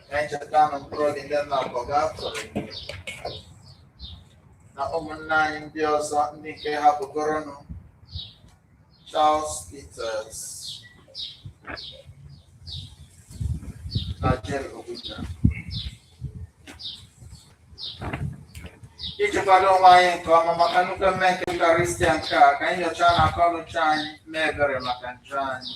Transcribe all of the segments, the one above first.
na-echeta na mkpụrụ obi ndị nọ na pọgatọrị na ụmụnna anyị ndị ọzọ ndị nke hapụgoronụ Charles Peters na Jane Obuja iji kwado onwe anyị nke ọma maka nnukwu emume nke Eucharistia nke a ka anyị nyochaa na akọnuche anyị mee ebere maka njọ anyị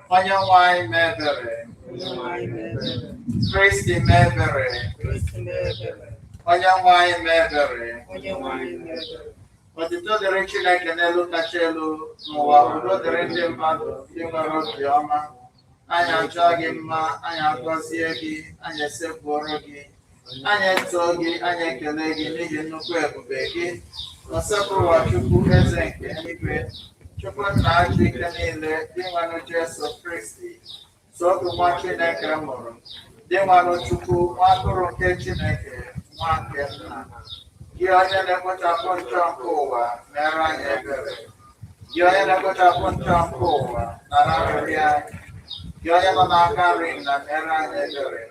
Onye nwe anyị mee ebere. Kristi mee ebere. Onye nwe anyị mee ebere. Otito dịrị Chineke n'elu kacha elu n'ụwa udo dịrị ndị mmadụ ndị nwere obi ọma. Anyị achọọ gị mma, anyị agọzie gị, anyị esekpuoro gị. Anyị etoo gị, anyị ekele gị n'ihi nnukwu ebube gị. Ọsebụrụwa Chukwu Eze nke eluigwe, Chukwu nna ji ike niile, Dinwenụ Jesu Kristi, sọ otu nwa Chineke mụrụ, Dinwenụ Chukwu, nwa atụrụ nke Chineke, nwa nke nna. Gị onye na-ekpochapụ njọ nke ụwa, meere anyị ebere. Gị onye na-ekpochapụ njọ nke ụwa nara arịrịọ anyị. Gị onye nọ n'aka nri Nna meere anyị ebere.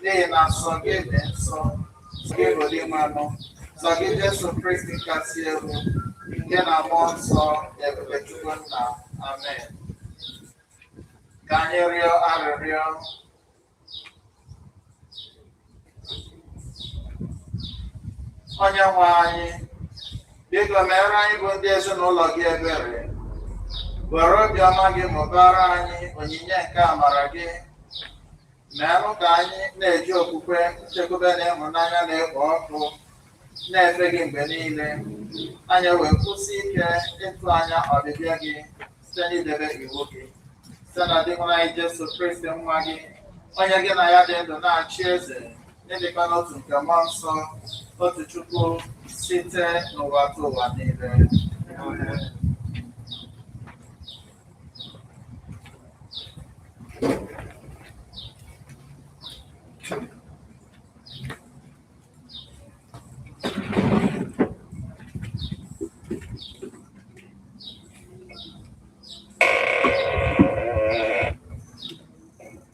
N'ihi na sọ gị dị nsọ, sọ gị bụ Dinwenụ, sọ gị Jesu Kristi kasị elu, nke na mmụọ nsọ n'ebube Chukwu Nna. Amen. Ka anyị rịọ arịrịọ onye nwe anyị biko meere anyị bụ ndị ezinụlọ gị ebere were obiọma gị mụbara anyị onyinye nke amara gị meenụ ka anyị na-eji okwukwe nchekwube na ịhụnanya na-ekpo ọkụ na-efe gị mgbe niile anyị wee kwụsie ike ịtụ anya ọbịbịa gị site n'idebe iwu gị site na Dinwenụ anyị Jesu Kristi nwa gị onye gị na ya dị ndụ na-achị eze n'ịdịkọ n'otu nke mmụọ nsọ otu Chukwu site n'ụwatụwa niile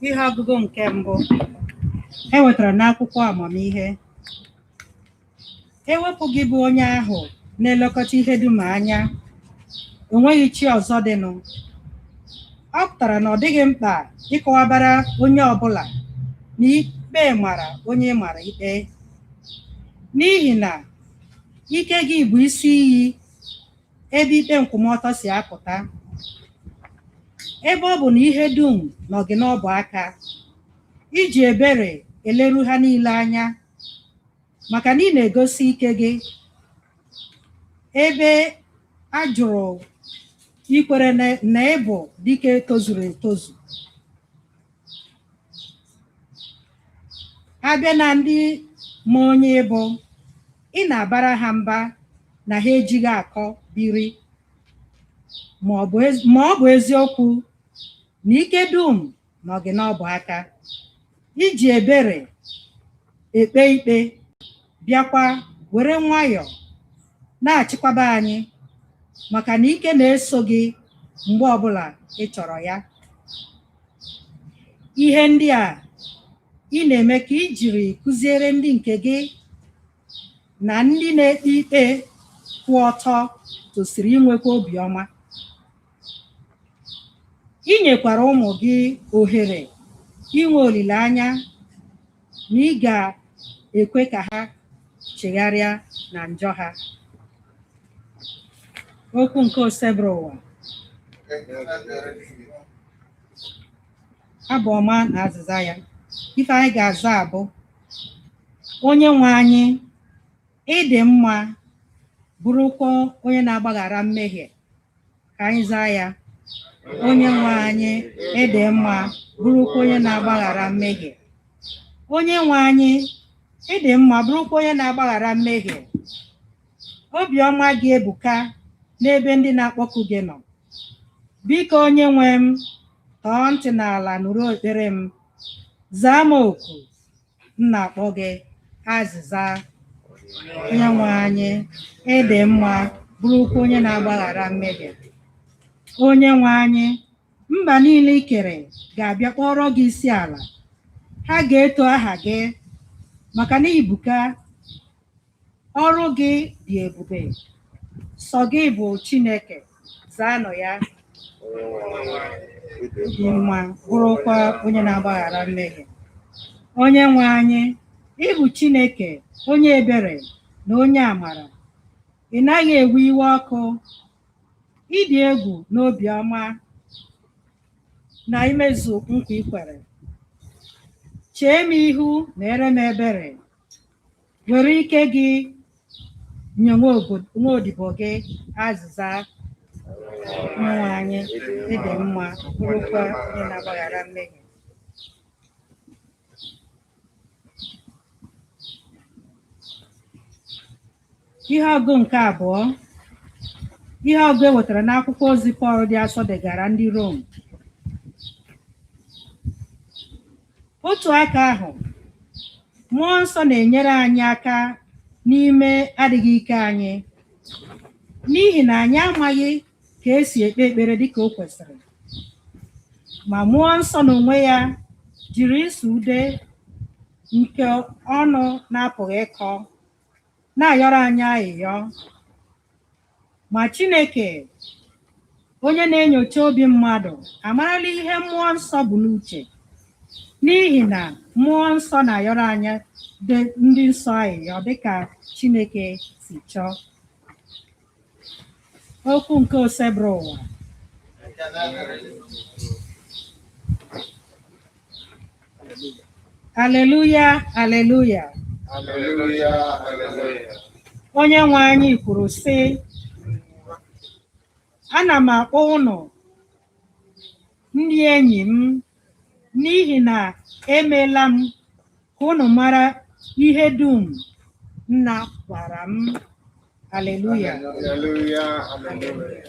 ihe ọgụgụ nke mbụ e wetara n'akwụkwọ amamihe ewepụ gị bụ onye ahụ na-elekọta ihe dum anya enweghị chi ọzọ dịnụ ọ pụtara na ọ dịghị mkpa ịkọwabara onye ọbụla na ikpe mara onye ị mara ikpe n'ihi na ike gị bụ isi iyi ebe ikpe nkwụmọtọ si apụta ebe ọ bụ na ihe dum nọ gị n'ọbụ aka i ji ebere eleru ha niile anya maka na ị na-egosi ike gị ebe a jụrụ ikwere na na ị bụ dike tozuru etozu a bịa na ndị ma onye ị bụ ị na-abara ha mba na ha ejighị akọ biri ma ọ bụ ezi- ma ọ bụ eziokwu na ike dum nọ gị n'ọbụ aka i ji ebere ekpe ikpe bịakwa were nwayọọ na-achịkwaba anyị maka na ike na-eso gị mgbe ọbụla ị chọrọ ya ihe ndị a ị na-eme ka i jiri kụziere ndị nke gị na ndị na-ekpe ikpe kwụ ọtọ tosiri inwekwa obiọma I nyekwara ụmụ gị ohere inwe olileanya na ị ga-ekwe ka ha chegharịa na njọ ha. Okwu nke Osebụrụwa, abụ ọma na azịza ya. Ife anyị ga-aza abụ Onye nwe anyị ị dị mma bụrụkwa onye na-agbaghara mmehie ka anyị zaa ya onye nwe anyị ị dị mma bụrụkwa onye na-agbaghara mmehie onye nwe anyị ị dị mma bụrụkwa onye na-agbaghara mmehie obiọma gị ebuka n'ebe ndị na-akpọku gị nọ biko onye nwe m tọọ ntị n'ala nụrụ ekpere m zaa m oku m na-akpọ gị azịza onye nwe anyị ị dị mma bụrụkwa onye na-agbaghara mmehie onye nwe anyị mba niile i kere ga-abịa kpọọrọ gị isi ala ha ga-eto aha gị maka na i buka Ọrụ gị dị ebube, sọ gị bụ Chineke, zaanụ ya. Dị mma, bụrụkwa onye na-agbaghara mmehie. Onye nwe anyị, ị bụ Chineke, onye ebere na onye amara. Ị naghị ewe iwe ọkụ, ị dị egwu na obiọma na imezu nkwa i kwere. Chee m ihu meere m ebere, were ike gị nye nwa obo- nwa odibo gị azịza Onyenwe anyị ị dị mma bụrụkwa onye na-agbaghara mmehie Ihe ọgụ nke abụọ ihe ọgụ e wetara n'akwụkwọ ozi Pọl dị asọ degara ndị Rom otu aka ahụ mmụọ nsọ na-enyere anyị aka n'ime adịghị ike anyị n'ihi na anyị amaghị ka esi ekpe ekpere dịka o kwesịrị ma mmụọ nsọ n'onwe ya jiri ịsụ ude nke ọnụ na-apụghị ịkọ na-ayọrọ anyị ayịyọ ma Chineke onye na-enyocha obi mmadụ amarala ihe mmụọ nsọ bu n'uche n'ihi na mmụọ nsọ na-ayọrọ anyị dị- ndị nsọ ayịyọ dịka Chineke si chọọ Okwu nke Osebụrụwa. Aleluya, aleluya. Aleluya, aleluya. Onye nwe anyị kwuru, sị, Ana m akpọ unu ndị enyi m n'ihi na emeela m ka unu mara ihe dum nna gwara m Aleluya. Aleluya, aleluya.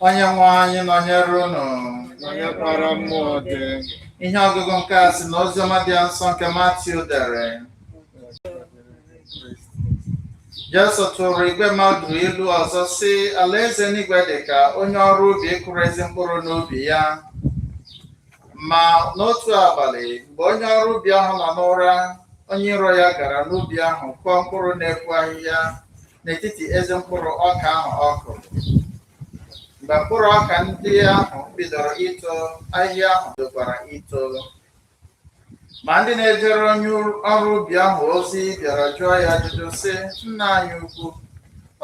Onyenwe anyị nọnyere unu. Nọnyekwara mmụọ gị. Ihe ọgụgụ nke a si na Oziọma dị nsọ nke Matiu dere. Jesu tụrụ igwe mmadụ ilu ọzọ sị alaeze eluigwe dị ka onye ọrụ ubi kụrụ ezi mkpụrụ n'ubi ya. Ma n'otu abalị, mgbe onye ọrụ ubi ahụ nọ n'ụra, onye iro ya gara n'ubi ahụ kụọ mkpụrụ na-epu ahịhịa n'etiti ezi mkpụrụ ọka ahụ ọ kụrụ. Mgbe mkpụrụ ọka ndị ahụ bidoro ito, ahịhịa ahụ bidokwara ito. Ma ndị na-ejere onye ọrụ ubi ahụ ozi bịara jụọ ya ajụjụ, sị, Nna anyị ukwu,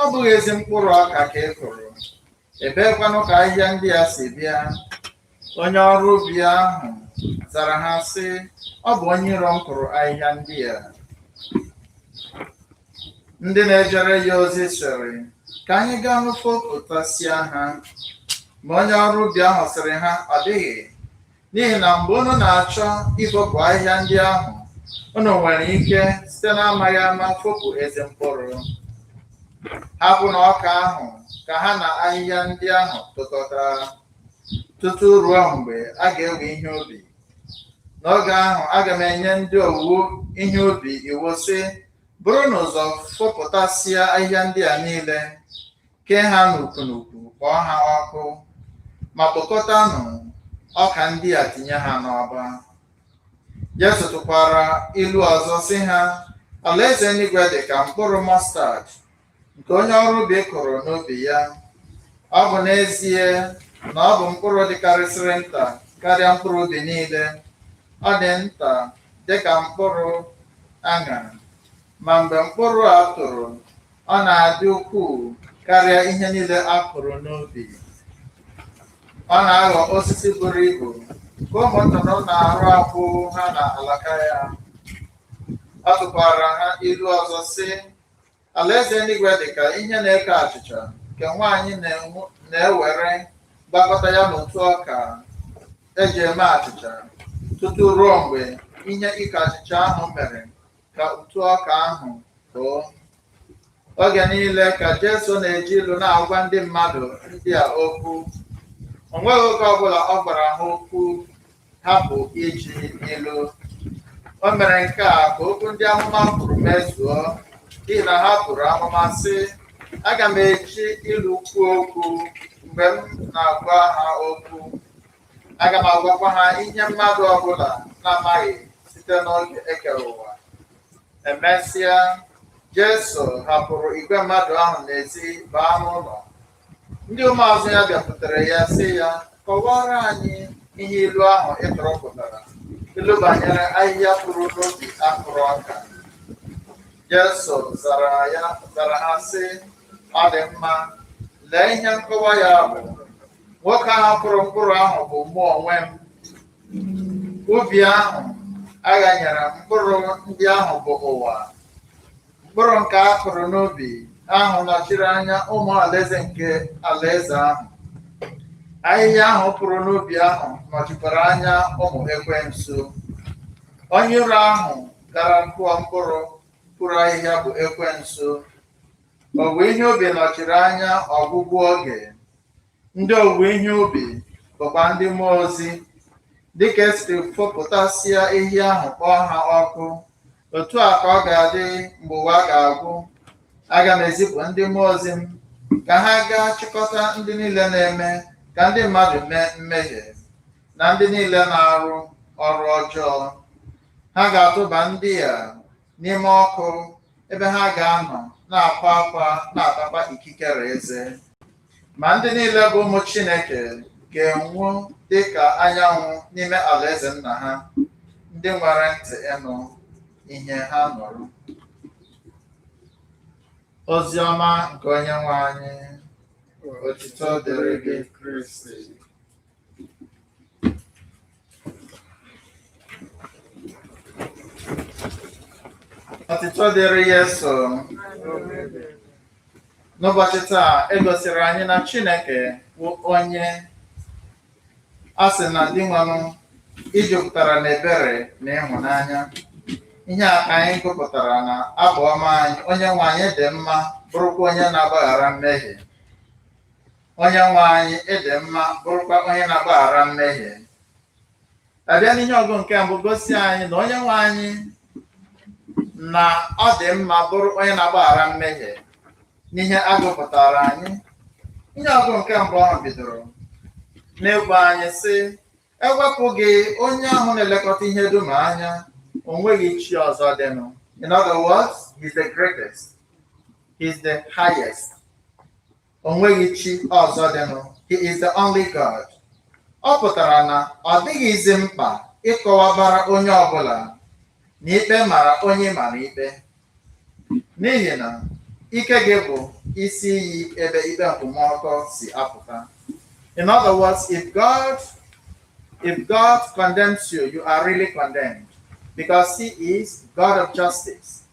ọ bụghị ezi mkpụrụ ọka ka ị kụrụ? Ebeekwanụ ka ahịhịa ndị a si bịa? Onye ọrụ ubi ahụ zara ha sị, Ọ bụ onye iro m kụrụ ahịhịa ndị a. Ndị na-ejere ya ozi sịrị, Ka anyị gaanụ fopụtasịa ha. Ma onye ọrụ ubi ahụ sịrị ha, Ọ dịghị, N'ihi na mgbe unu na-achọ ifopụ ahịhịa ndị ahụ, unu nwere ike site n'amaghị ama fopụ ezi mkpụrụ. Hapụnụ ọka ahụ ka ha na ahịhịa ndị ahụ tokọta, tutu ruo mgbe a ga-ewe ihe ubi. N'oge ahụ, aga m enye ndị owuwe ihe ubi iwu sị, Burunụ ụzọ fopụtasịa ahịhịa ndị a niile. kee ha n'ukwu n'ukwu kpọọ ha ọkụ ma kpokọtanụ ọka ndị a tinye ha n'ọba Jesu tụkwara ilu ọzọ sị ha alaeze eluigwe dị ka mkpụrụ mọstad nke onye ọrụ ubi kụrụ n'ubi ya ọ bụ n'ezie na ọ bụ mkpụrụ dịkarịsịrị nta karịa mkpụrụ ubi niile ọ dị nta dị ka mkpụrụ aṅara ma mgbe mkpụrụ a toro Ọ na-adị ukwuu karịa ihe niile a kụrụ n'ubi. Ọ na-aghọ osisi buru ibu ka ụmụ nnụnụ na-arụ akwụ ha n'alaka ya. Ọ tụkwara ha ilu ọzọ sị, Alaeze eluigwe dị ka ihe na-eko achịcha nke nwaanyị na-enwu- na-ewere gwakọta ya n'ụtụ ọka e ji eme achịcha tutu ruo mgbe ihe iko achịcha ahụ mere ka ụtụ ọka ahụ koo. Oge niile ka Jesu na-eji ilu na-agwa ndị mmadụ ndị a okwu. O nweghị oge ọbụla ọ gwara ha okwu hapụ iji ilu. O mere nke a ka okwu ndị amụma kwuru mezuo, n'ihi na ha buru amụma sị, Aga m eji ilu kwuo okwu mgbe m na-agwa ha okwu. Aga m agwakwa ha ihe mmadụ ọbụla na-amaghị site n'oge e kere ụwa. Emesịa, Jesu hapụrụ igwe mmadụ ahụ n'ezi baa n'ụlọ. Ndị ụmụazụ ya bịakwutere ya sị ya, kọwaara anyị ihe ilu ahụ ị tụrụ pụtara, ilu banyere ahịhịa puru n'ubi a kụrụ ọka. Jesu zara ya zara ha sị, ọ dị mma, lee ihe nkọwa ya bụ Nwoke ahụ kụrụ mkpụrụ ahụ bụ mụ onwe m. Ubi ahụ a ghanyere mkpụrụ ndị ahụ bụ ụwa. Mkpụrụ nke a kụrụ n'ubi ahụ nọchiri anya ụmụ alaeze nke alaeze ahụ. Ahịhịa ahụ puru n'ubi ahụ nọchikwara anya ụmụ ekwensu. Onye iro ahụ gara kụọ mkpụrụ puru ahịhịa bụ ekwensu. Owuwe ihe ubi nọchiri anya ọgwụgwụ oge Ndị owuwe ihe ubi bụkwa ndị mmụọ ozi, dị ka esiri fopụtasịa ahịhịa ahụ kpọọ ha ọkụ, otu a ka ọ ga-adị mgbe ụwa ga-agwụ. Aga m ezipụ ndị mmụọ ozi m ka ha gaa chịkọta ndị niile na-eme ka ndị mmadụ mee mmehie na ndị niile na-arụ ọrụ ọjọọ. Ha ga-atụba ndị a n'ime ọkụ ebe ha ga-anọ na-akwa akwa na-atakwa ikikere eze ma ndị niile bụ ụmụ Chineke ga-enwu dị ka anyanwụ n'ime alaeze nna ha ndị nwere ntị ịnụ ihe ha nụrụ ozi ọma nke onye nwe anyị otito dịrị gị Kristi otito dịrị Yesu n'ụbọchị taa e gosiri anyị na chineke bụ onye a sị na Dinwenụ i jupụtara na ebere na ịhụnanya ihe a ka anyị gụpụtara na abụ ọma anyị onye nwe anyị dị mma bụrụkwa onye na-agbaghara mmehie Onye nwe anyị ị dị mma bụrụkwa onye na-agbaghara mmehie a bịa n'ihe ọgụ nke mbụ gosi anyị na onye nwe anyị na ọ dị mma bụrụ onye na-agbaghara mmehie n'ihe a gụpụtara anyị ihe ọgụ nke mbụ ahụ bidoro n'ịgwa anyị sị e wepụ gị onye ahụ na-elekọta ihe dum anya o nweghị chi ọzọ dịnụ in other words he's the greatest he's the highest O nweghị chi ọzọ dịnụ. He is the only God. Ọ pụtara na ọ dịghịzi mkpa ịkọwabara onye ọ bụla na ikpe mara onye ị mara ikpe. N'ihi na ike gị bụ isi iyi ebe ikpe nkwụmọtọ si apụta. In other words, if God if God condemns you, you are really condemned because he is God of justice.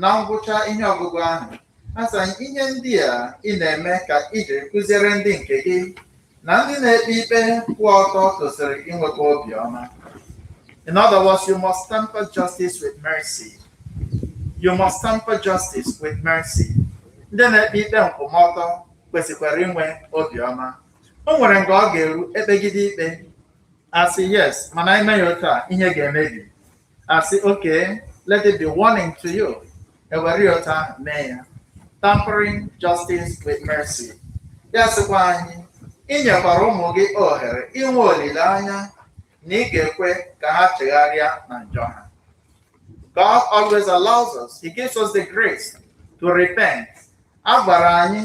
Na ngwụcha ihe ọgụgụ ahụ, a sị ihe ndị a ị na-eme ka i jiri kụziere ndị nke gị na ndị na-ekpe ikpe kwụ ọtọ tosiri inwekwa obiọma. In other words, you must temper justice with mercy. You must temper justice with mercy. Ndị na-ekpe ikpe nkwụmọtọ kwesịkwara inwe obiọma. O nwere nke ọ ga-eru e kpegide ikpe a sị yes mana i mee ya otu a ihe ga-emebi a sị okay let it be warning to you e were ya otu ahụ mee ya tempering justice with mercy ya sịkwa anyị i nyekwara ụmụ gị ohere inwe olileanya na ị ga-ekwe ka ha chegharịa na njọ ha God always allows us he gives us the grace to repent a gwara anyị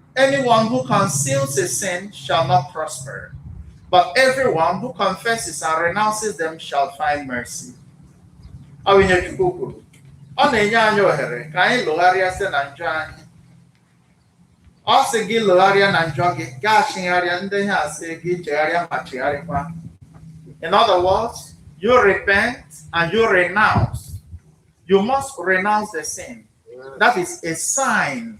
Anyone who conceals a sin shall not prosper, but everyone who confesses and renounces them shall find mercy. Ọ bụ ihe Chukwu kwuru. Ọ na-enye anyị ohere ka anyị lọgharịa site na njọ anyị. Ọ sị gị lọgharịa na njọ gị, gaa chigharịa ndị ihe a sị gị chegharịa ma chigharịkwa. In other words, you repent and you renounce. You must renounce the sin. That is a sign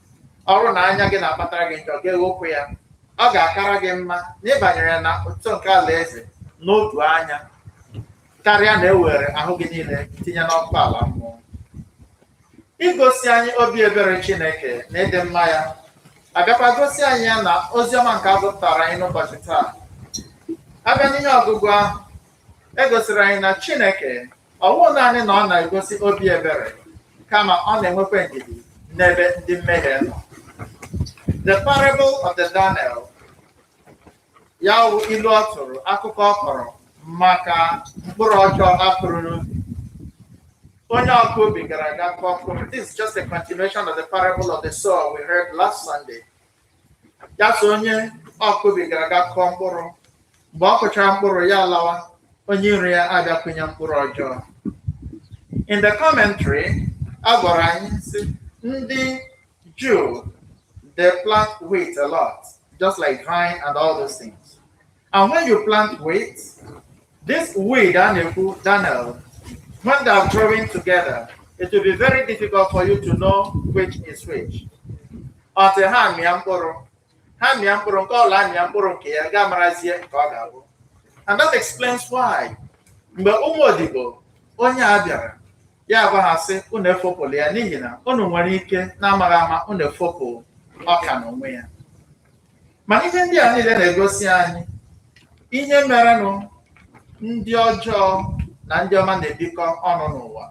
ọ bụrụ na anya gị na-akpatara gị njọ gị ghụpụ ya ọ ga-akara gị mma na ị banyere na otu nke alaeze n'otu anya karịa na e were ahụ gị niile tinye n'ọkụ ala mmụọ igosi anyị obi ebere Chineke na ịdị mma ya a bịakwa gosi anyị ya na ozi ọma nke a gụpụtara anyị n'ụbọchị taa a bịa n'ihe ọgụgụ ahụ e gosiri anyị na Chineke ọ bụghị naanị na ọ na-egosi obi ebere kama ọ na-enwekwa ndidi n'ebe ndị mmehie nọ the parable of the darnel ya wụ ilu ọ tụrụ akụkọ ọ kọrọ maka mkpụrụ ọjọọ a kụrụ n'ubi onye ọkụ ubi gara aga kụọ mkpụrụ this is just a continuation of the parable of the sower we heard last Sunday ya so onye ọkụ ubi gara aga kụọ mkpụrụ mgbe ọ kụchara mkpụrụ ya lawa onye iro ya abịa kụnye mkpụrụ ọjọọ in the commentary a gwara anyị sị ndị Jew they plant wheat a lot just like vine and all those things And when you plant wheat, this weed a na-ekwu, darnel, when they are growing together, it will be very difficult for you to know which is which. Until ha mịa mkpụrụ, ha mịa mkpụrụ nke ọla mịa mkpụrụ nke ya ga-amarazie nke ọ ga-abụ. And that explains why. Mgbe ụmụ odibo onye a bịara, ya agwa ha sị unu efopụla ya n'ihi na unu nwere ike n'amaghị ama unu efopụ ọka n'onwe ya. ma ihe ndị a niile na-egosi anyị ihe merenụ ndị ọjọọ na ndị ọma na-ebikọ ọnụ n'ụwa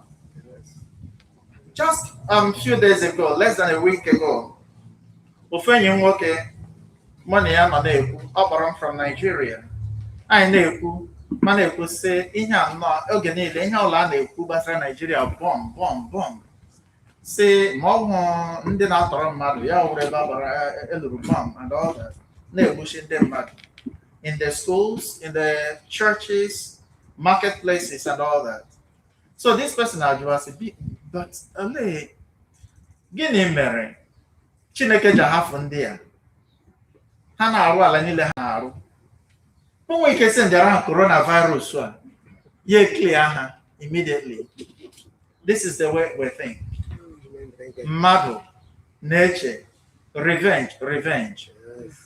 just a um, few days ago less than a week ago ofu enyi m nwoke mụ na ya nọ na-ekwu ọ kpọrọ m from Nigeria anyị na-ekwu ma na-ekwu sị ihe a nnọọ oge niile ihe ọla a na-ekwu gbasara Nigeria bọm bọm bọm sị ma ọ wụ ndị na-atọrọ mmadụ ya wụrụ ebe a gbara e luru bọm and all that na-egbusi ndị mmadụ in the schools in the churches marketplaces and all that so this person ajụwa sị "Bi- but olee gịnị mere chineke ji ahafụ ndị a ha na-arụ ala niile ha na-arụ o nwe ike sị ndị ara ahụ coronavirus a ya eklia ha immediately this is the way we think mmadụ na-eche revenge revenge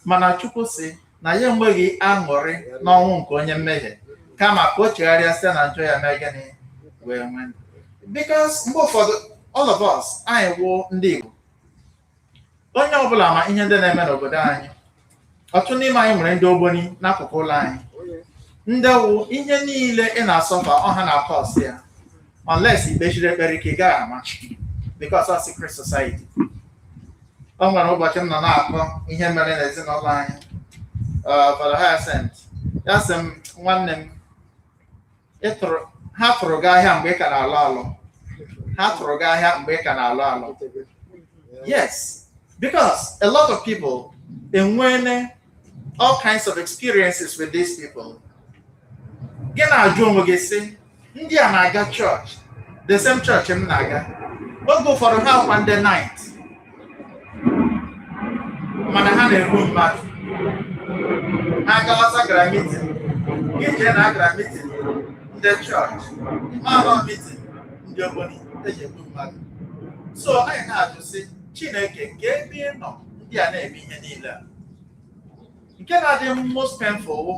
mana chukwu si na ya enweghị aṅụrị n'ọnwụ nke onye mmehie kama ka o chegharịa site na njọ ya mee gịnị wee nwee ndụ. because mgbe ụfọdụ all of us anyị wụ ndị Igbo onye ọbụla ma ihe ndị na-eme n'obodo anyị ọtụtụ n'ime anyị nwere ndị ogboni n'akụkụ ụlọ anyị ndị wụ ihe niile ị na-asọfa ọ ha na-akọọsị ya unless i kpesiri ekpere ike ị gaghị ama because of secret society o nwere ụbọchị m nọ na-akọ ihe mere n'ezinụlọ anyị Father Hyacinth ya sị m nwanne m ha tụrụ gị ahịa mgbe ị ka na-alụ alụ ha tụrụ gị ahịa mgbe ị ka na-alụ alụ yes because a lot of people enweene all kinds of experiences with these people gị na-ajụ onwe gị sị ndị a na-aga chọọchị the same chọọchị m na-aga oge ụfọdụ ha wụkwa ndị Knight mana ha na-egbu mmadụ ha galasa gara mitin gị chee na a gara mitin ndị chọọchị mana ọ mitin ndị ogboni e ji egbu mmadụ so anyị na-ajụ sị chineke nke ebe ị nọ ndị a na-eme ihe niile a nke na-adị most painful wụ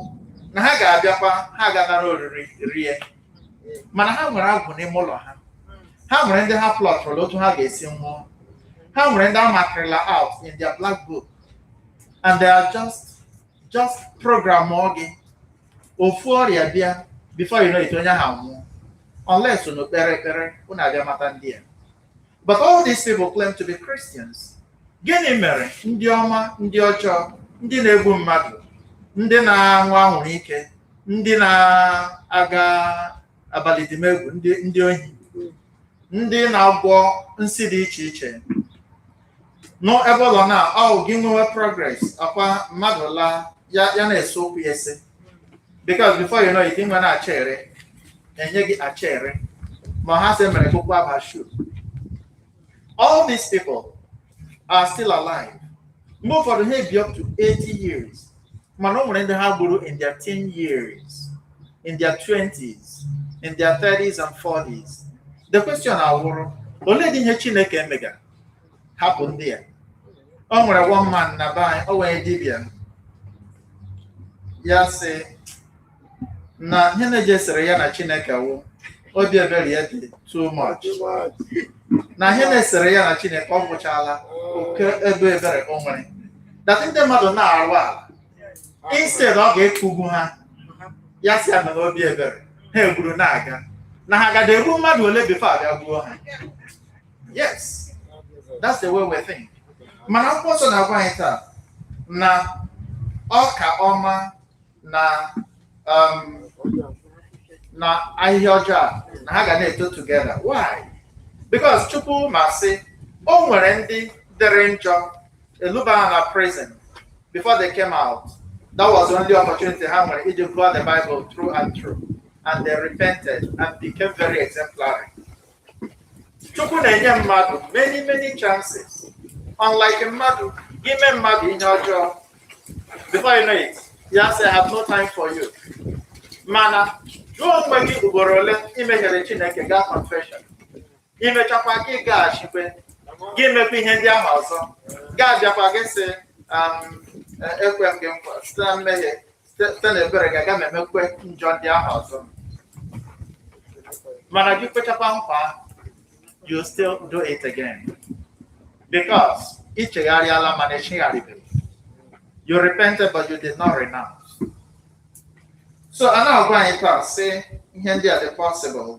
na ha ga-abịakwa ha ga-anara oriri rie mana ha nwere agwụ n'ime ụlọ ha ha nwere ndị ha plọtụrụla otu ha ga-esi nwụọ ha nwere ndị a makịrịla out in their black book and they are just programụọ gị ofu ọrịa bịa before you know it onye ahụ anwụọ unless unu kpere ekpere unu abịa mata ndị a But all these people claim to be Christians. Gịnị mere ndị ọma, ndị ọjọọ, ndị na-egbu mmadụ, ndị na-aṅụ anwụrụ ike, ndị na-aga abalị dimegwu, ndị ohi, ndị na-agwọ nsi dị iche iche, nọ ebe ọ nọ na ọ gị nwewe progress ọkwa mmadụ laa ya ya na-ese okwu ya ese because before you know it nwere acha ere enye gị acha ere ma ha sị mere kụkwa aba shu all these people are still alive mgbe ụfọdụ ha ebi up to 80 years mana o nwere ndị ha gburu in their 10 years in their 20s in their 30s and 40s the question awụrụ olee dị ihe chineke emegara hapụ ndị a o nwere one man na be anyị o nwere dibịa ya sị na ihe na-ejesere ya na chineke wụ obi ebere ya dị too much na ihe na-esere ya na chineke ọ wụchala oke ebe ebere o nwere that ndị mmadụ na-arụ ala instead ọ ga-akụgbu ha ya si ana n'obi ebere ha egburu na-aga na ha gada egbu mmadụ ole before a bịa gbuo ha yes that's the way we think mana akwụkwọ nsọ na-agwa anyị taa na ọka ọma na um, na ahịhịa ọjọọ a na ha ga na-eto together why because chukwu ma sị o nwere ndị dịrị njọ e luba ha na prison before they came out that was the only opportunity ha nwere iji gụọ the bible through and through and they repented and became very exemplary Chukwu na-enye mmadụ many many chances unlike mmadụ i mee mmadụ ihe ọjọọ before you know it ya sị I have no time for you mana jụọ onwe gị ugboro ole i mehiere Chineke gaa confession i mechakwa gị gaghachikwe gị mekwa ihe ndị ahụ ọzọ ga-abịakwa gị sị um, e- ekwe m gị nkwa site na mmehie site na ebere gị aga m emekwe njọ ndị ahụ ọzọ mana gị kwechakwa nkwa ahụ, you still do it again because ị chegharịala mana ị chegharịbeghị you repented but you did not renounce so a na-agwa anyị taa sị ihe ndị a dị possible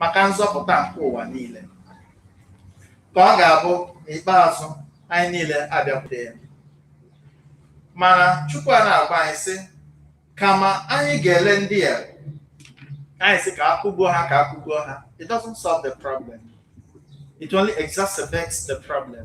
maka nzọpụta nke ụwa niile ka ọ ga-abụ n'ikpeazụ anyị niile abịakwute ya mana Chukwu a na-agwa anyị sị kama anyị ga-ele ndị a anyị sị ka a kụgbuo ha ka a kụgbuo ha it doesn't solve the problem it only exacerbates the problem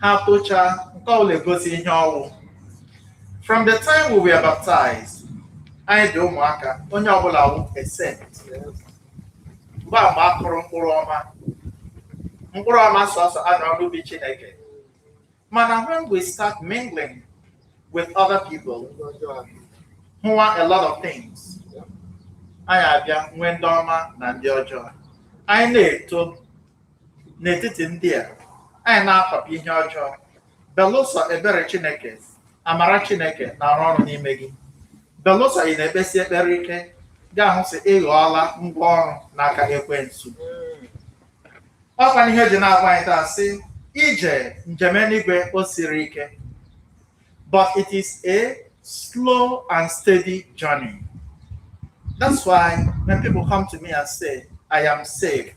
ha tocha nke ọbụla egosi ihe ọ wụ from the time we were baptized anyị bụ ụmụaka onye ọbụla wụ a saint mgbe a mgbe a kụrụ mkpụrụ ọma mkpụrụ ọma sọsọ a nọ n'ubi Chineke mana when we start mingling with other people hụwa a lot of things anyị abịa nwee ndị ọma na ndị ọjọọ anyị na-eto n'etiti ndị a anyị na-akpapụ ihe ọjọọ belụsọ ebere chineke amara chineke na-arụ ọrụ n'ime gị belụsọ ị na-ekpesi ekpere ike ga-ahụ sị ị ghọọla ngwa ọrụ n'aka ekwensu ọkwa na ihe o ji na-agwa anyị taa sị ije njem eluigwe o siri ike but it is a slow and steady journey that's why when people come to me and say i am saved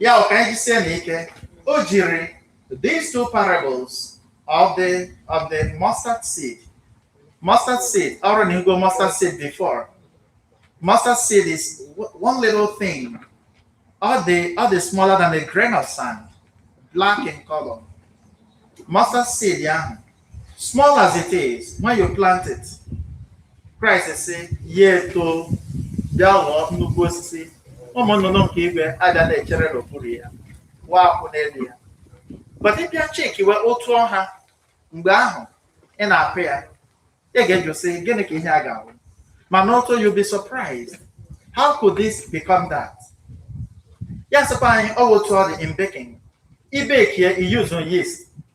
ya ọ ka anyị jisie na ike o jiri these two parables of the of the mustard seed mustard seed ọrụ na igo mustard seed before mustard seed is w- one little thing all the all the smaller than a grain of sand black in color mustard seed ahụ Small as it is, when you plant it, Christ sị ya eto bịa ghọọ nnukwu osisi ụmụ nnụnụ nke igwe abịa na-echere n'okpuru ya waa akwụ n'elu ya but ị bịa chekiwe otu ọ ha mgbe ahụ ị na-akụ ya ị ga-ajụ sị gịnị ka ihe a ga-awụ mana o too you'll be surprised how could this become that ya sịkwa anyị ọ wụ otu ọ dị in baking ị bekie ị use yeast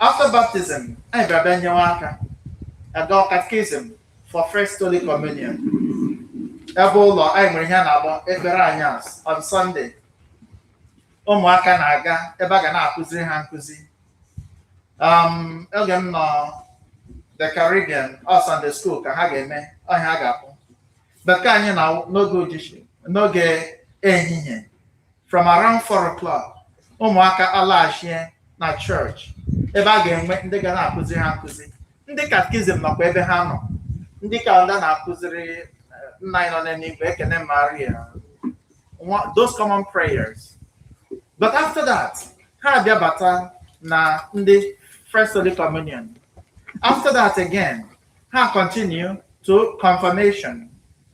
After baptism, anyị bịara bịa nyewe aka aga catechism for first Holy Communion. Ebe ụlọ anyị nwere ihe a na-akpọ ekpere anyasị on Sunday. Ụmụaka na-aga ebe a ga na-akụziri ha nkụzi. Um, oge m nọ the Caribbean ọ wụ Sunday school ka ha ga-eme ọ ihe a ga-akpọ. But nke anyị na-awụ n'oge ujichi n'oge ehihie from around 4 o'clock ụmụaka alaghachie na chọọchị ebe a ga-enwe ndị ga na-akụzi ha nkụzi ndị katkizim nọkwa ebe ha nọ ndị ka nta a na-akụziri eh, nna anyị nọ n'eluigwe ekene maria nwa- those common prayers but after that ha abịa bata na ndị first holy communion after that again ha continue to confirmation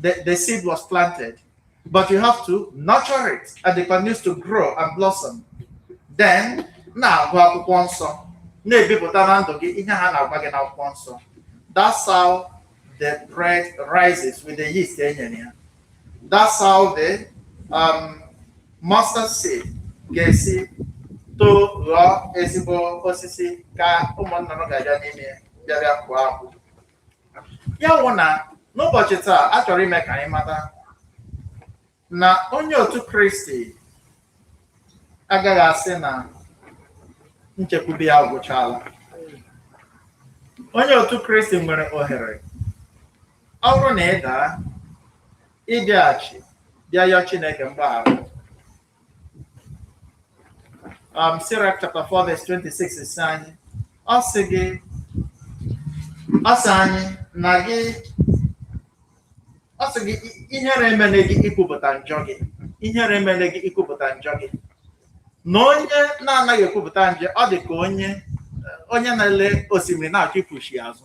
the, the seed was planted, but you have to nurture it and it continues to grow and blossom. Then, na-agụ akwụkwọ nsọ na-ebipụta na ndụ gị ihe ha na-agwa gị n'akwụkwọ nsọ. That's how the bread rises with the yeast e nyere ya. That's how the um, mustard seed ga-esi too ghọọ ezigbo osisi ka ụmụ nnụnụ ga-abịa n'ime ya bịa bịa kụọ akwụ. ya wụ na n'ụbọchị taa a chọrọ ime ka anyị mata na onye otu kristi agaghị asị na nchekwube ya agwụchala onye otu kristi nwere ohere ọ bụrụ na ị daa ị bịaghachi bịa yọọ chineke mgbaghara um, Sirach chapter 4 verse 26 sị anyị, ọ sị gị ọ sị anyị na gị ọ sị gị ihere emele gị ikwupụta njọ gị ihere emele gị ikwupụta njọ gị na onye na-anaghị ekwupụta njọ ọ dị ka onye onye na-ele osimiri na-achọ ịpụchi azụ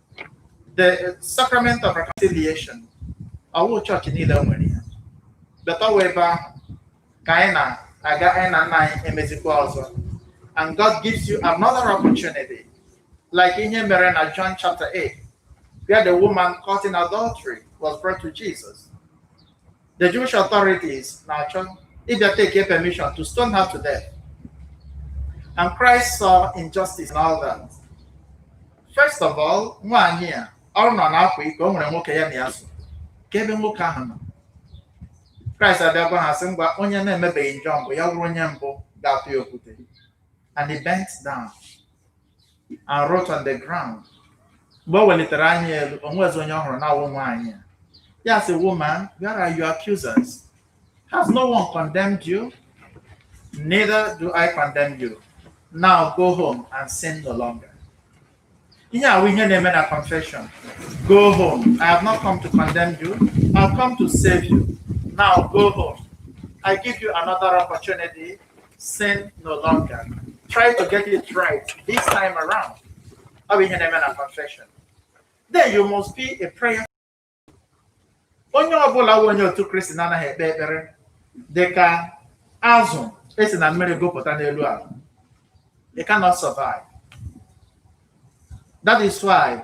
the sacrament of reconciliation awụghị chọọchị niile nwere ya but ọ wụ ebe ahụ ka anyị na-aga anyị na nna anyị emezikwa ọzọ and God gives you another opportunity like ihe mere na John chapter 8 where the woman caught in adultery was brought to Jesus the Jewish authorities na-achọ ịbịa take permission to stone her to death. And Christ saw injustice in all that. First of all, nwaanyị a ọ nọ na-akwa iko o nwere nwoke ya na ya so kee ebe nwoke ahụ nọ Kraịst abịa gwa ha sị ngwa onye na-emebeghị njọ mbụ ya wụrụ onye mbụ ga-atụ ya okwute and he bent down and wrote on the ground. Mgbe o welitere anya elu, o nwezi onye ọ hụrụ na-awụ nwaanyị a. Ya sị, woman, where are your accusers? Has no one condemned you? Neither do I condemn you. Now go home and sin no longer. Ihe a bụ ihe na-eme na confession. Go home. I have not come to condemn you. I've come to save you. Now go home. I give you another opportunity sin no longer. Try to get it right this time around. Ọ bụ ihe na-eme na confession. Then you must be a prayer. Onye ọbụla bụ onye otu Kristi na-anaghị ekpe ekpere dị ka azụ e si na mmiri gụpụta n'elu ala. They cannot survive. That is why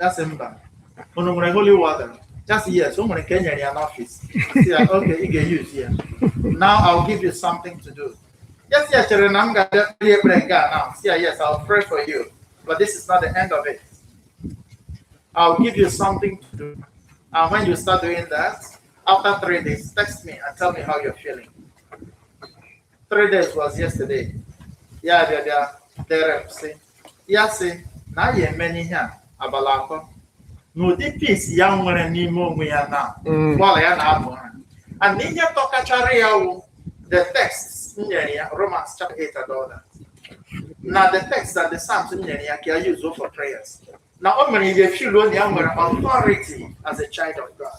ya sị mba unu nwere holy water ya sị yes o nwere nke e nyere ya n'ọfịs Sị ya, okay ị ga-eyuzi ya now I'll give you something to do ya sị ya chere na m ga-abịa kpere ya ekpere nke a now sị ya yes I'll pray for you but this is not the end of it I'll give you something to do and when you start doing that after three days text me and tell me how you're feeling three days was yesterday ya abịa bịa dere m sị ya sị na ya emena ihe a abalị atọ n'ụdị peace ya nwere n'ime onwe ya na Mm. ụgbọala ya na-abụ ha and ihe tọkachara ya wụ the text m nyere ya romans chapter 8 and all that na the text and the psalms m nyere ya ka ya use for prayers na o mere ya feel na ya nwere authority as a child of god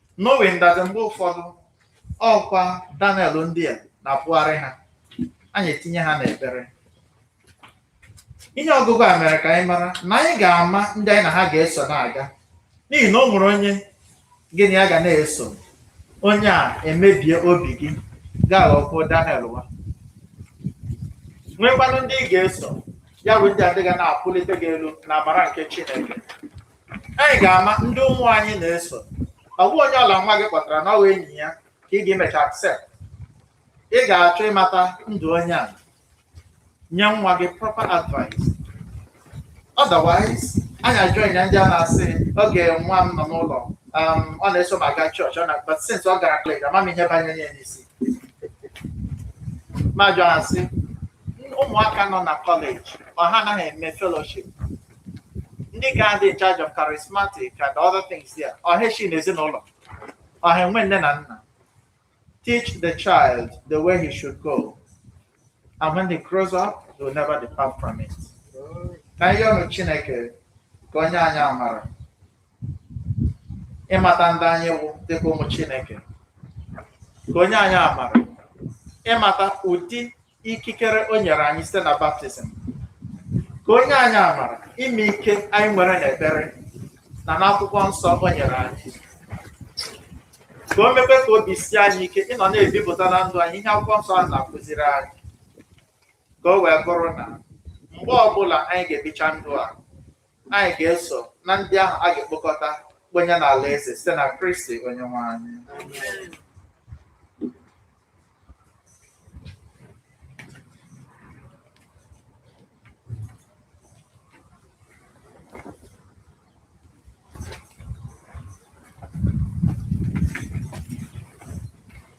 knowing that mgbe ụfọdụ ọkwa Daniel ndị a na-apụgharị ha anyị etinye ha n'ekpere ihe ọgụgụ a mere ka anyị mara na anyị ga-ama ndị anyị na ha ga-eso na-aga n'ihi na o nwere onye gị na ya ga na-eso onye a emebie obi gị ga-aghọkwuo Daniel nwa nwekwanụ ndị ị ga-eso ya bụ ndị a ga na-apụlite gị elu n'amara nke Chineke anyị ga-ama ndị ụmụ anyị na-eso ọ bụ onye ọbụla nwa gị kpọtara na ọ wụ enyi ya ka ị ga-emecha accept ị ga-achọ ịmata ndụ onye a nye nwa gị proper advice otherwise anyị ajoin ndị a na-asị oge nwa m nọ n'ụlọ um, ọ na-eso m aga chọọchị ọ na but since ọ gara kọleji ama m ihe banyere ya n'isi m ajụọ sị ụmụaka nọ na kọleji ọ ha anaghị eme fellowship ndị ga-adị in charge of charismatic and other things there ọ ga-eshi na ezinụlọ ọ ga-enwe nne na nna teach the child the way he should go and when he grows up he will never depart from it ka anyị yọọnụ chineke ka o nye anyị amara ịmata ndị anyị wụ dịka ụmụ chineke ka o nye anyị amara ịmata ụdị ikikere o nyere anyị site na baptizim ka o nye anyị amara ịma ike anyị nwere n'ekpere na n'akwụkwọ nsọ o nyere anyị ka o mekwe ka obi sie anyị ike ịnọ na-ebipụta na ndụ anyị ihe akwụkwọ nsọ a na-akụziri anyị ka o wee bụrụ na mgbe ọbụla anyị ga-ebicha ndụ a anyị ga-eso na ndị ahụ a ga-ekpokọta kponye n'alaeze site na Kristi Onyenwe anyị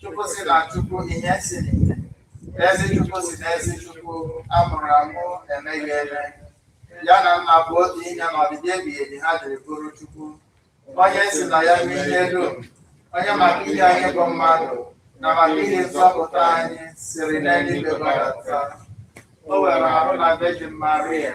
Chukwu si na Chukwu ihe si n'ihe. Ezi Chukwu si n'ezi Chukwu a mụrụ amụ emeghị eme. Ya na nna bụ otu ihe na ọdịdị ebighị ebi ha jiri bụrụ Chukwu. Onye si na ya rụọ ihe dum. Onye maka ihi anyị bụ mmadụ na maka ihi nzọpụta anyị siri n'eluigwe gbadata. O were arụ na Virgin Maria.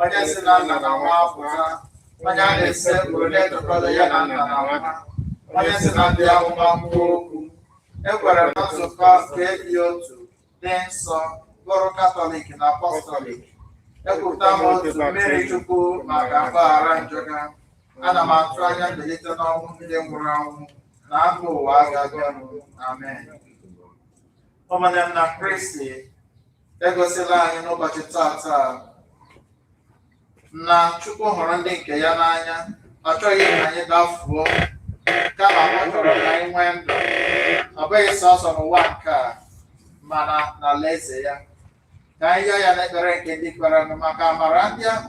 onye si na nna na nwa apụta onye a na-esekpuru na-etokọta ya na nna na nwa onye si na ndị amụma kwuo okwu ekwere na nzukọ nke dị otu dị nsọ bụrụ katọlik na apọstọlik ekwupụta m otu mmiri chukwu maka mgbaghara njọ ga ana m atụ anya mbilite n'ọnwụ ndị nwụrụ anwụ na afọ ụwa ga-abịanụ amen ụmụnne m na kristi egosila anyị n'ụbọchị taata na Chukwu hụrụ ndị nke ya n'anya ọ chọghị ka anyị dafuo kama ọ chọrọ ka anyị nwee ndụ ọ bụghị sọsọ n'ụwa nke a mana n'alaeze ya ka anyị yọọ ya n'ekpere nke ndị kwerenụ maka amara ndị ahụ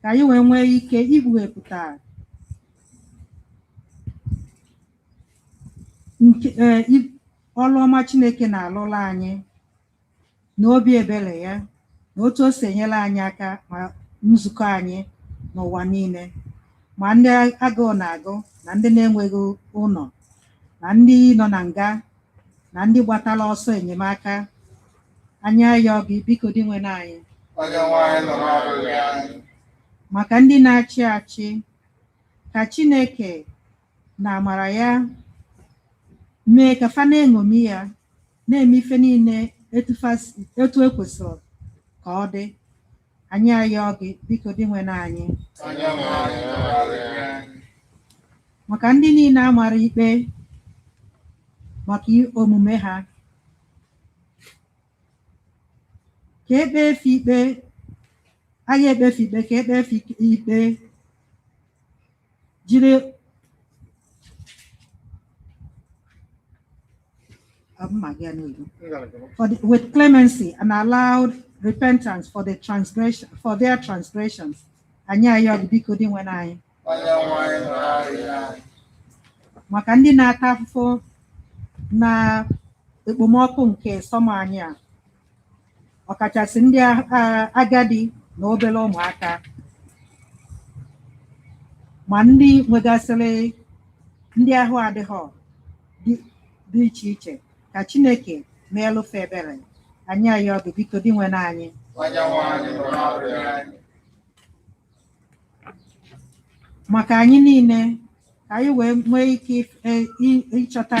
ka anyị wee nwee ike ikpughepụta ọrụ ọma Chineke na-alụla anyị na obi ebere ya na otu o si enyere anyị aka ma nzukọ anyị n'ụwa niile ma ndị agụụ na-agụ na ndị na-enweghị ụlọ na ndị nọ na nga na ndị gbatara ọsọ enyemaka anyị ayọọ gị biko Dinwenụ anyị Onyenwe anyị nụrụ arịrịọ anyị maka ndị na-achị achị ka Chineke n'amara ya mee ka fa na-eṅomi ya na-eme ife niile etu e kwesịrị ka ọ dị Anyị ayọọ gị, biko Dinwenụ anyị. Onyenwe anyị nụrụ arịrịọ anyị. maka ndị niile a mara ikpe maka i- omume ha ka e kpee fa ikpe a ga-ekpe fa ikpe ka e kpee fa ikpe jiri with clemency and allowed repentance for their transgressions anyị ayọọ gị biko Dinwenụ anyị maka ndị na-ata afụfụ n'ekpomọkụ nke summer anyị a ọkachasị ndị agadi na obere ụmụaka ma ndị nwegasịrị ndị ahụ adịghị dị iche iche ka Chineke meelụ fa ebere anyị ayọọ gị biko Dinwenụ anyị maka anyị niile ka anyị wee nwee ike ịchọta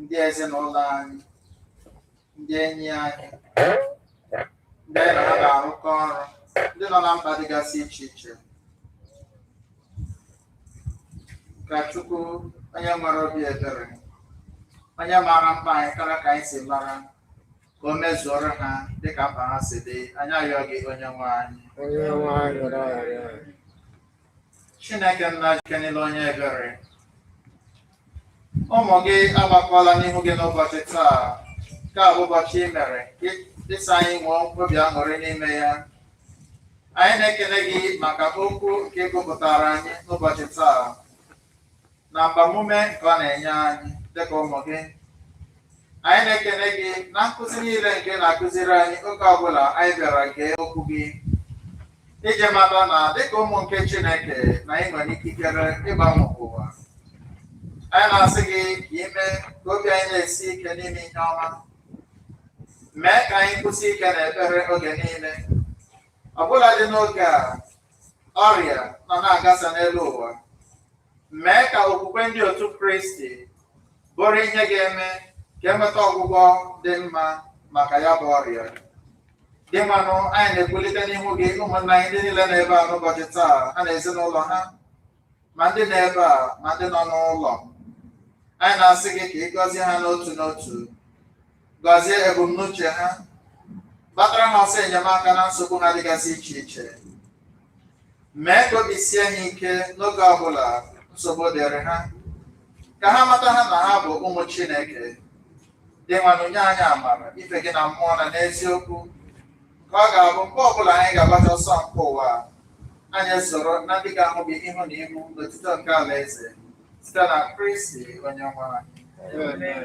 ndị ezinụlọ anyị ndị enyi anyị ndị anyị na ha na-arụkọ ọrụ ndị nọ na mba dịgasị iche iche ka Chukwu onye nwere obi ebere onye maara mkpa anyị karịa ka anyị si mara ka o mezuoro ha dịka mkpa ha si dị anyị ayọọ gị onye nwe anyị Onye nwe anyị nụrụ arịrịọ anyị. Chineke nna ji ike niile onye ebere ụmụ gị agbakọla n'ihu gị n'ụbọchị taa nke a bụ ụbọchị i mere ị sị anyị nwee obi aṅụrị n'ime ya anyị na-ekele gị maka okwu nke ị gụpụtara anyị n'ụbọchị taa na agbamume nke ọ na-enye anyị dịka ụmụ gị anyị na-ekele gị na nkụzi niile nke na-akụziri anyị oge ọbụla anyị bịara gee okwu gị iji mata na dịka ụmụ nke Chineke na anyị nwere ikikere ịgbanwe ụwa anyị na-asị gị ka i mee ka obi anyị na-esi ike n'ime ihe ọma mee ka anyị kwụsie ike n'ekpere oge niile ọ bụladị n'oge a ọrịa nọ na-agasa n'elu ụwa mee ka okwukwe ndị otu Kristi bụrụ ihe ga-eme ka e nweta ọgwụgwọ dị mma maka ya bụ ọrịa Dinwenụ anyị na-ekulite n'ihu gị ụmụnna anyị ndị niile nọ ebe a n'ụbọchị taa ha na ezinụlọ ha ma ndị nọ ebe a ma ndị nọ n'ụlọ anyị na-asị gị ka ị gọzie ha n'otu n'otu gọzie ebumnuche ha gbatara ha ọsọ enyemaka na nsogbu ha dịgasị iche iche mee ka obi sie ha ike n'oge ọ bụla nsogbu dịrị ha ka ha mata ha na ha bụ ụmụ Chineke Dinwenụ nye anyị amara ife gị na mmụọ na n'eziokwu ka ọ ga-abụ mgbe ọbụla anyị ga-agbacha ọsọ nke ụwa anyị soro na ndị ga-ahụ gị ihu na ihu n'otito nke alaeze site na Kristi onye nwe anyị Amen.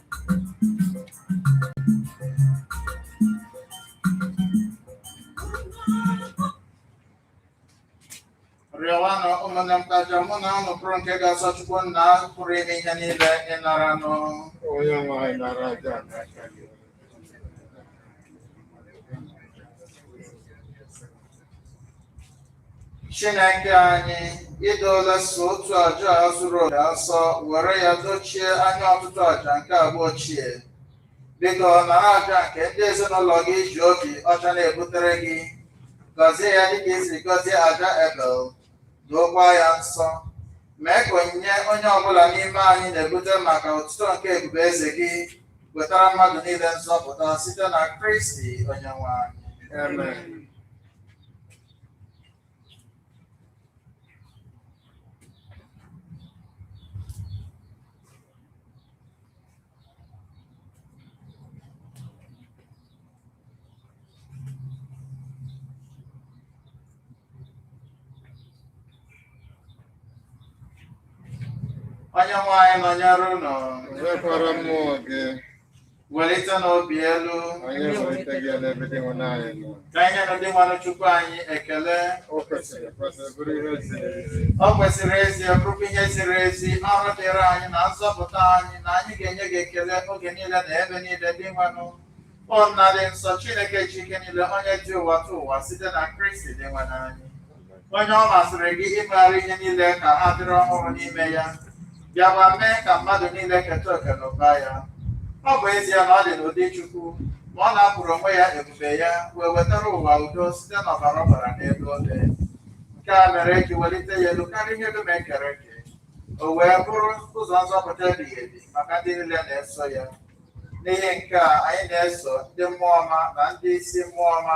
rịọwanụ ụmụnne m ka aja mụ na ụnụ bụrụ nke ga-asọ chukwu nna pụrụ ime ihe niile ịnara nụ onye nwe anyị nara aja n'aka gị Chineke anyị i dola sọ otu aja a zuru oke asọ were ya dochie anya ọtụtụ aja nke agba ochie biko nara aja nke ndị ezinụlọ gị ji obi ọcha na-ebutere gị gọzie ya dịka i si gọzie aja Ebel dookwa ya nsọ mee ka onyinye onye ọbụla n'ime anyị na-ebute maka otuto nke ebube eze gị wetara mmadụ niile nzọpụta site na kristi onyenwe anyị Amen. onye nwe anyị nọnyere ụnụ nọnyekwara mmụọ gị welitenụ obi elu Anyị ewelitego elu ebe Dinwenụ anyị nọ. ka anyị nyenụ Dinwenụ Chukwu anyị ekele O kwesịrị ekwesị bụrụ ihe ziri ezi. o kwesịrị ezie bụrụkwa ihe ziri ezi ọrụ dịrị anyị na nzọpụta anyị na anyị ga-enye gị ekele oge niile na ebe niile Dinwenụ o nna dị nsọ chineke ji ike niile onye dị ụwatụwa site na kristi Dinwenụ anyị onye ọ masịrị gị imegharị ihe niile ka ha dịrị ọhụrụ n'ime ya bịakwa mee ka mmadụ niile keta oke n'ụba ya ọ bụ ezie na ọ dị n'ụdị Chukwu ma ọ napụrụ onwe ya ebube ya wee wetara ụwa udo site n'ọbara ọ gbara n'elu obe nke a mere e ji welite ya elu karịa ihe dum e kere eke o wee bụrụ ụzọ nzọpụta ebighị ebi maka ndị niile na-eso ya n'ihi nke a anyị na-eso ndị mmụọ ọma na ndị isi mmụọ ọma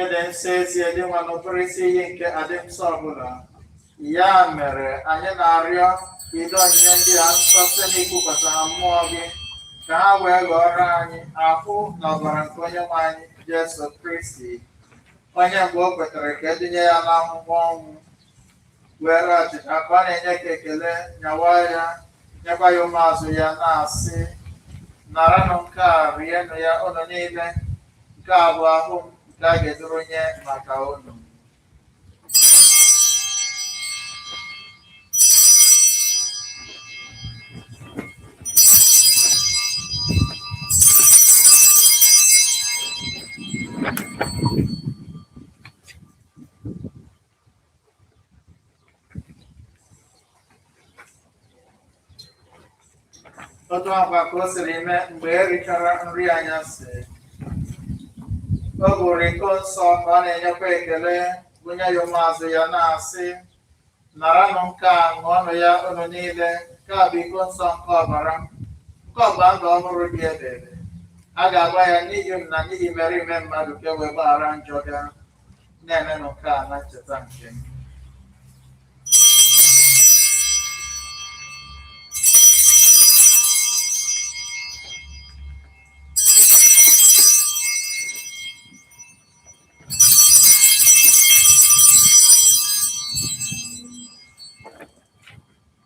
ị dị nsọ ezie Dinwenụ bụrụ isi iyi nke adị nsọ ọbụla ya mere anyị na-arịọ ka i doo onyinye ndị a nsọ site n'ikwupụta ha mmụọ gị ka ha wee ghọrọ anyị ahụ na ọbara nke onye nwe anyị Jesu Kristi onye mgbe o kwetara ka e tinye ya n'ahụhụ ọnwụ were achịcha ka ọ na-enyekwa ekele nyawa ya nyekwa ya ụmụazụ ya na-asị naranụ nke a rienụ ya ụnụ niile nke a bụ ahụ m nke a ga-eduru nye maka ụnụ otu a kwa ka o siri mee mgbe e richara nri anyasị o buru iko nsọ ka ọ na-enyekwa ekele bunye ya ụmụazụ ya na-asị naranụ nke a ṅụọnụ ya unu niile nke a bụ iko nsọ nke ọbara m nke ọgba ndụ ọhụrụ dị ebebe a ga-agba ya n'ihi unu na n'ihi imerime mmadụ ka e wee gbaghara njọ ga na-emenụ nke a na ncheta nke m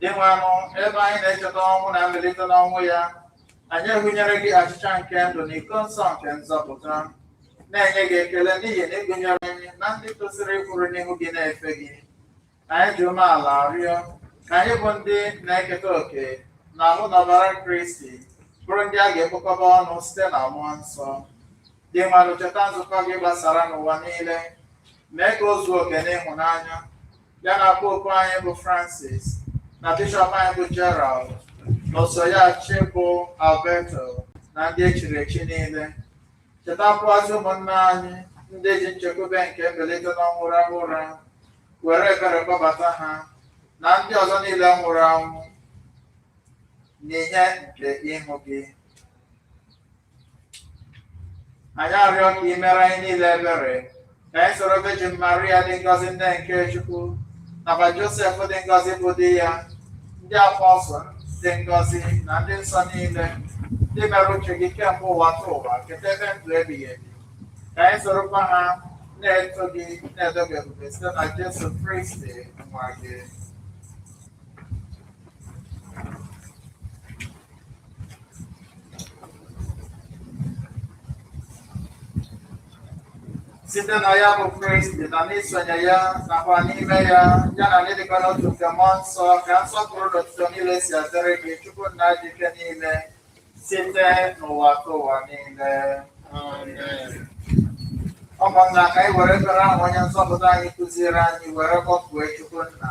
dinwenụ ebe anyị na-echeta ọnwụ na mbilite n'ọnwụ ya anyị ehunyere gị achịcha nke ndụ na iko nsọ nke nzọpụta na-enye gị ekele n'ihi na ị gụnyere anyị na ndị tosiri ịkwụrụ n'ihu gị na-efe gị anyị ji umeala arịọ ka anyị bụ ndị na-eketa oke n'ahụ na ọbara kristi bụrụ ndị a ga-ekpokọba ọnụ site na mmụọ nsọ Dinwenụ, cheta nzukọ gị gbasara n'ụwa niile, mee ka o zuo oke n'ịhụnanya. Ya na popu anyị bụ Francis na bishọp anyị bụ Gerald na oso ya achị bụ Alberto na ndị echiri echi niile. Chetakwuazị ụmụnna anyị ndị ji nchekwube nke mbilite n'ọnwụ rahụ ụra, were ebere kpọbata ha na ndị ọzọ niile nwụrụ anwụ n'ihe nke ihu gị. anyị arịọ ka ị mere anyị niile ebere ka anyị soro Virgin Maria dị ngọzi nne nke Chukwu nakwa Josef dị ngọzi bụ di ya ndị apọsụl dị ngọzi na ndị nsọ niile ndị mere uche gị kemgbe ụwatụwa keta ebe ndụ ebighị ebi ka anyị sorokwa ha na-eto gị na-edo gị ebube site na Jesu Kristi nwa gị site na ya bụ Kristi na n'isonye ya nakwa n'ime ya ya na n'ịdịkọ n'otu nke mmụọ nsọ ka nsọpụrụ na otuto niile si adịrị gị Chukwu nna ji ike niile site n'ụwatụwa niile ụmụnna ka anyị were ekpere ahụ onye nzọpụta anyị kụziere anyị were kpọkuo Chukwu nna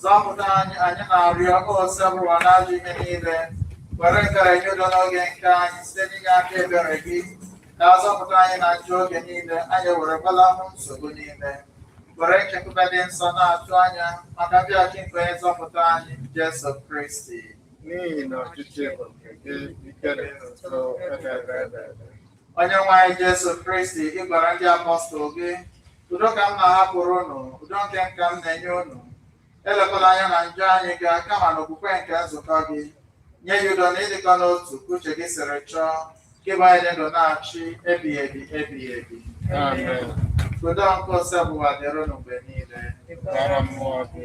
Zọpụta anyị anyị na-arịọ Osebụrụwa n'ajọ ihe niile were nkara nye udo n'oge nke anyị site n'inye aka ebere gị ka a zọpụta anyị na njọ oge niile anyị were gbalahụ nsogbu niile were nchekwube dị nsọ na-atụ anya maka mbịaghachi nke onye nzọpụta anyị Jesu Kristi n'ihi na ọchịchị bụ nke gị ike na otuto ebebe ebebe onye nwe anyị Jesu Kristi ị gwara ndị apọstụl gị Udo ka m na-ahapụrụ unu, udo nke m ka m na-enye unu. Elekwala anya na njọ anyị ga kama na okwukwe nke nzukọ gị. Nye ya udo na ịdịkọ n'otu ka uche gị siri chọọ, gị bụ onye dị ndụ na-achị ebighị ebi ebighị ebi. Amen. Udo nke Osebụrụwa dịrị unu mgbe niile. Dịkwara mmụọ gị.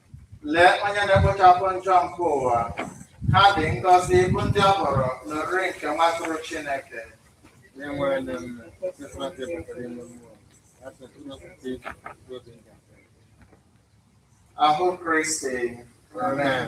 Lee onye na-ekpochapụ njọ nke ụwa. Ha dị ngọzi bụ ndị a kpọrọ n'oriri nke nwa atụrụ Chineke. Onye nwe anyị ndị nne, sịkwa ndị pụtara ime mmụọ, ha sịtụrụ okpukpe iji kwuo obi nga. Ahụ Kristi. Amen.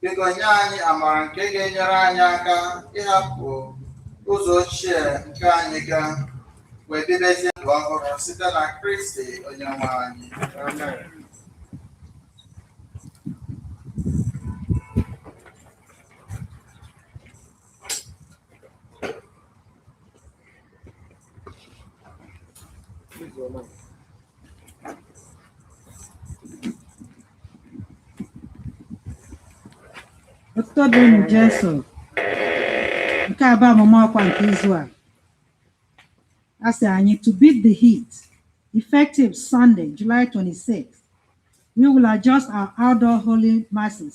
Biko nye anyị amara nke ga-enyere anyị aka ịhapụ ụzọ ochie nke anyị ga wee bibezie ndụ ọhụrụ site na Kristi onye nwe anyị. Amen. Otuto dịrị Jesu. Nke a bụ ọmụma ọkwa nke izu a. A sị anyị to beat the heat, effective Sunday, July 26, we will adjust our outdoor holy masses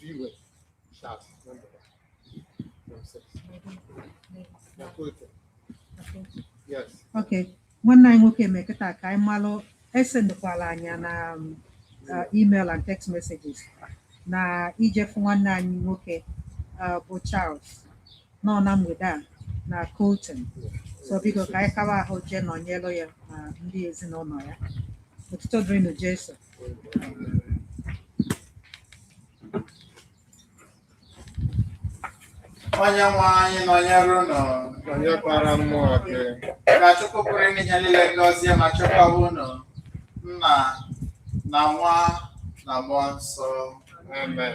viewers shall number themselves. Yeah, go ahead. Yes. Okay. nwanne anyị nwoke mee kịta ka anyị malụ esendekwala anyị na um, uh, email and text messages na ijefu nwanne anyị nwoke uh, bụ Charles nọ na mgbede a na Colton so biko ka anyị kaba ahụ jee nọnyelụ ya na ndị ezinụlọ ya otuto dịrịnụ Jesu onye nwe anyị nọnyere ụnụ nọnyekwara mmụọ gị ka Chukwu pụrụ ime ihe niile gọzie ma chekwawa ụnụ nna na nwa na mmụọ nsọ amen